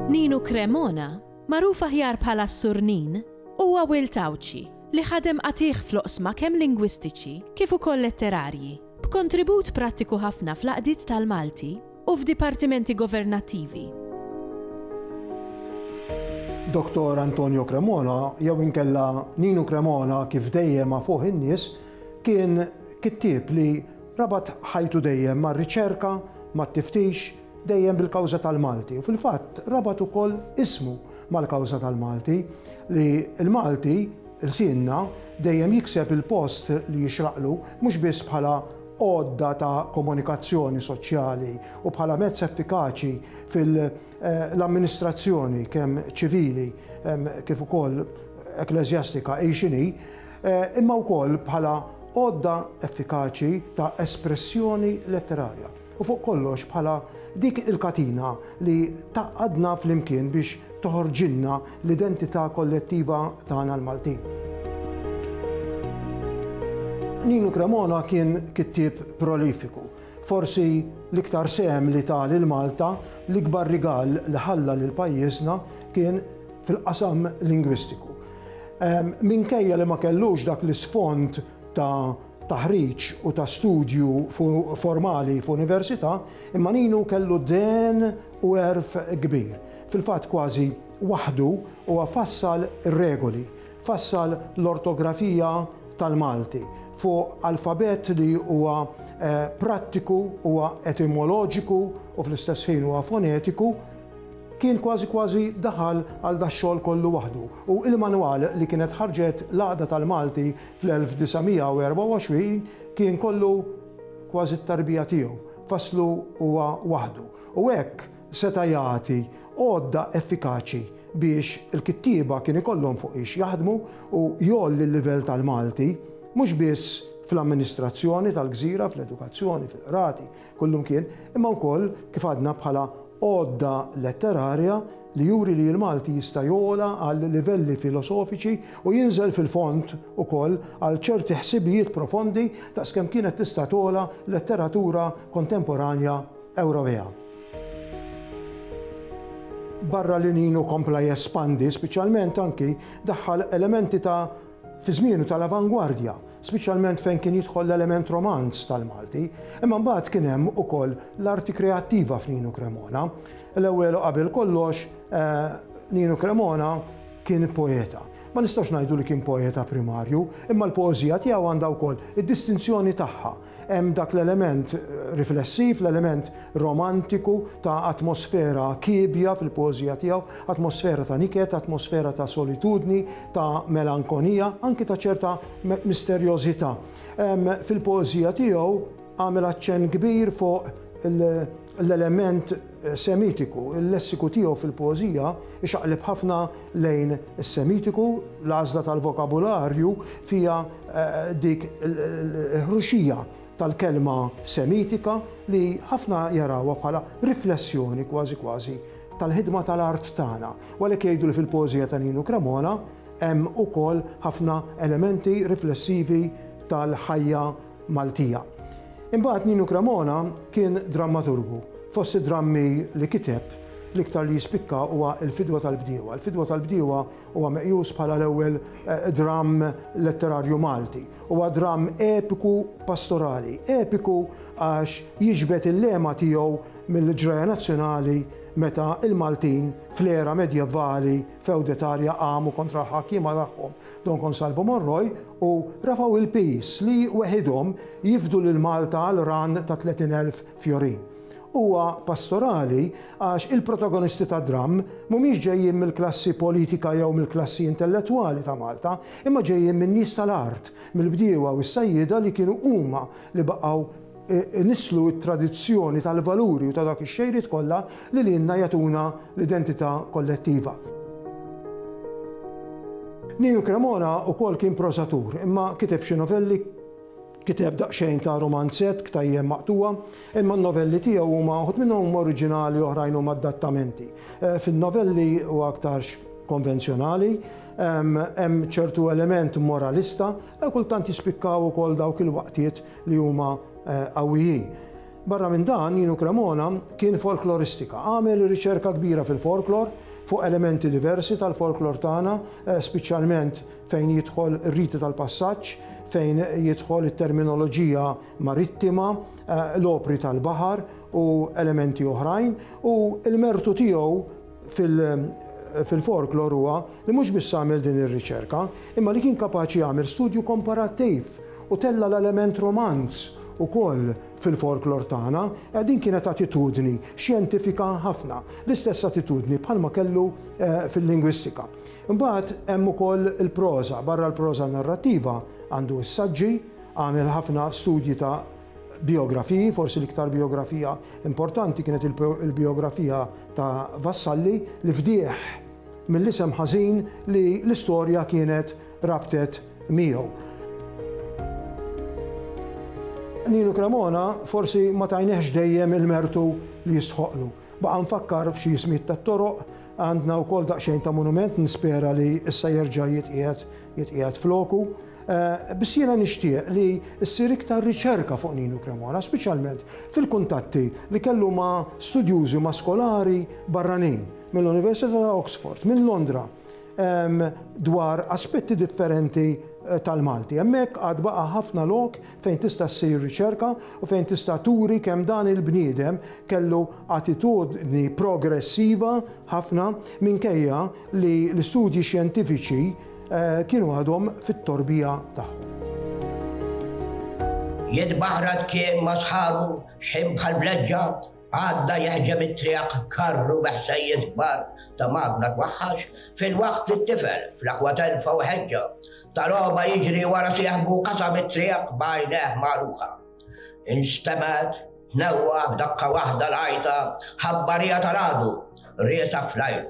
Ninu Cremona, magħruf aħjar bħala s-Sur Nin, huwa wild Għawdxi li ħadem qatigħ fl-oqsma kemm lingwistiċi kif ukoll letterarji, b'kontribut prattiku ħafna fl-għaqdiet tal-Malti, u f'dipartimenti governattivi. Dottor Antonio Cremona, jew inkella Ninu Cremona kif dejjem għafuh in-nies, kien kittieb li rabat ħajtu dejjem mar-riċerka, mat-tiftix, dejjem bil-kawża tal-Malti u fil-fatt rabat ukoll ismu mal-kawża tal-Malti li l-Malti, lsienna, dejjem jikseb il-post li jixraqlu mhux biss bħala għodda ta' komunikazzjoni soċjali u bħala mezz effikaċi fil-amministrazzjoni kemm ċivili kif ukoll ekkleżjastika hi x'inhi, imma wkoll bħala għodda effikaċi ta' espressjoni letterarja u fuq kollox bħala dik il-katina li tgħaqqadna flimkien biex toħorġilna l-identità kollettiva tagħna l-Maltin. Ninu Cremona kien kittieb prolifiku. Forsi l-iktar sehem li ta lil Malta, l-ikbar rigal li ħalla lil pajjiżna kien fil-qasam lingwistiku. Minkejja li ma kellux dak l-isfond ta' taħriġ u ta' studju formali f'università, imma Ninu kellu dehen u għerf kbir. Fil-fatt kważi waħdu huwa fassal ir-regoli, fassal l-ortografija tal-Malti fuq alfabett li huwa prattiku, huwa etimoloġiku u fl-istess ħin huwa fonetiku. Kien kważi kważi daħal għal dax-xogħol kollu waħdu u il-manwal li kienet ħarġet l-Għaqda tal-Malti Fl-1924 kien kollu kważi t-tarbija tiegħu, fasslu huwa waħdu, u hekk seta' jagħti għodda effikaċi biex il-kittieba kien ikollhom fuq ix jaħdmu u jgħolli l-livell tal-Malti, mhux biss fl-amministrazzjoni tal-gżira, fl-edukazzjoni, fil-qrati, kullumkien, imma wkoll, kif għadna, bħala Għodda letterarja li juri li l-Malti jista' jogħla għal livelli filosofiċi u jinżel fil-fond ukoll għal ċerti ħsibijiet profondi daqs kemm kienet tista' togħla letteratura kontemporanja Ewropea. Barra l-Għinin u kompla jespandi, speċjalment anki daħħal elementi ta' fi żmienu tal-avangwardja, speċjalment fejn kien jidħol l-element romanz tal-Malti, imma mbagħad kien hemm ukoll l-arti kreattiva f'Ninu Cremona. L-ewwel u qabel kollox Ninu Cremona kien poeta. Ma nistax ngħidu li kien poeta primarju, imma l-poeżija tiegħu għandha wkoll id-distinzjoni tagħha Hemm dak l-element riflessiv, l-element romantiku ta' atmosfera kiebja fil-poeżija tiegħu, atmosfera ta' niket, atmosfera ta' solitudni, ta' melankonija, anki ta' ċerta misterjożità. Fil-poeżija tiegħu għamel aċċenn kbir fuq il- l-element Semitiku, il-lessiku tiegħu fil-poeżija ixaqleb ħafna lejn is-Semitiku, l-għażla tal-vokabularju fiha eh, dik il-ħruxija tal-kelma Semitika li ħafna jarawha bħala riflessjoni kważi kważi tal-ħidma tal-art tagħna. Walek jgħidu li fil-poeżija ta' Ninu Cremona hemm ukoll ħafna elementi riflessivi tal-ħajja Maltija. Imbagħad Ninu Cremona kien drammaturgu. Fost id-drammi li kiteb, l-iktar li jispikka huwa Il-Fidwa tal-Bdiewa. Il-Fidwa tal-Bdiewa huwa meqjus bħala l-ewwel eh, dramm letterarju Malti. Huwa dramm epiku pastorali, epiku għax jiġbed il-lema tiegħu mill-ġraja nazzjonali meta il-Maltin fl-era medjevali feudetarja qamu kontra l-ħakkiema tagħhom Don Consalvo Morroi u rafgħu l-piż li weħidhom jifdu lil Malta għal rann ta' 30,000 fjorin. Huwa pastorali għax il-protagonisti tad-dramm mhumiex ġejjin mill-klassi politika jew mill-klassi intellettwali ta' Malta, imma ġejjin min-nies tal-art, mill-bdiewa u s-sajjieda li kienu huma li baqgħu inisslu t-tradizzjoni tal-valuri u ta' dawk ix-xejriet kollha li lilna jagħtuna l-identità kollettiva. Ninu Cremona wkoll kien prosatur, imma kiteb xi novelli, kiteb daqsxejn ta' rumanzett, ktajjen maqtugħa, imma n-novelli tiegħu huma uħud minnhom huma oriġinali oħrajn huma adattamenti. Fin-novelli huwa aktarx konvenzjonali, hemm ċertu element moralista, kultant jispikkaw ukoll dawk il-waqtiet li huma qawwijin. Barra minn dan, Inu Cremona kien folkloristika. Għamel riċerka kbira fil-folklor, fuq elementi diversi tal-folklor tagħna, spiċjalment fejn jidħol ir-riti tal-passaġġ, fejn jidħol it-terminoloġija marittima, l-opri tal-baħar u elementi oħrajn, u l-mertu tiegħu, fil-folklor huwa li mhux biss għamel din ir-riċerka, imma li kien kapaċi jagħmel studju komparattiv u tella' l-element romanz ukoll fil-folklor tagħna, eh, din kienet attitudni xjentifika ħafna, l-istess attitudni bħalma kellu eh, fil-lingwistika. Imbagħad hemm ukoll il-proża, barra l-proża narrattiva għandu s-saġġi, għamel ħafna studji ta' bijografiji, forsi l-iktar bijografija importanti kienet il-bijografija ta' Vassalli li fdieħ mill-isem ħażin li l-istorja kienet rabtet miegħu. Ninu Cremona forsi ma tajniex dejjem il-mertu li jistħoqlu. Baqa' nfakkar f'xi jismiet tat-toroq, għandna wkoll daqsxejn ta' monument nispera li issa jerġa' jitqiegħed jitqiegħed floku. Biss jiena nixtieq li ssir iktar riċerka fuq Ninu Cremona, speċjalment fil-kuntatti li kellu ma' studjużi, ma' skolari barranin, mill-Università ta' Oxford, minn Londra, dwar aspetti differenti tal-Malti. Hemmhekk għad baqa' ħafna lok fejn tista' ssir riċerka u fejn tista' turi kemm dan il-bniedem kellu attitudni progressiva ħafna minkejja li l-istudji xjentifiċi Kienu għadhom fit-torbija tagħhom. Jitbaħrat kien ma' sħabu xħin bħal bleġġa, għadda jehġem it-triq karru bi ħsejjes kbar ta' magna twahhax, filwaqt li t-tifel, fl-aqwa telfa u ħeġġa ta' logħba jiġri wara sieħbu qasam it-triq b'għajnejh magħluqa. Instemgħet tnewwa' b'daqqa waħda l-għajta ħabbarija tal-għadu, riesaq fl-ajru.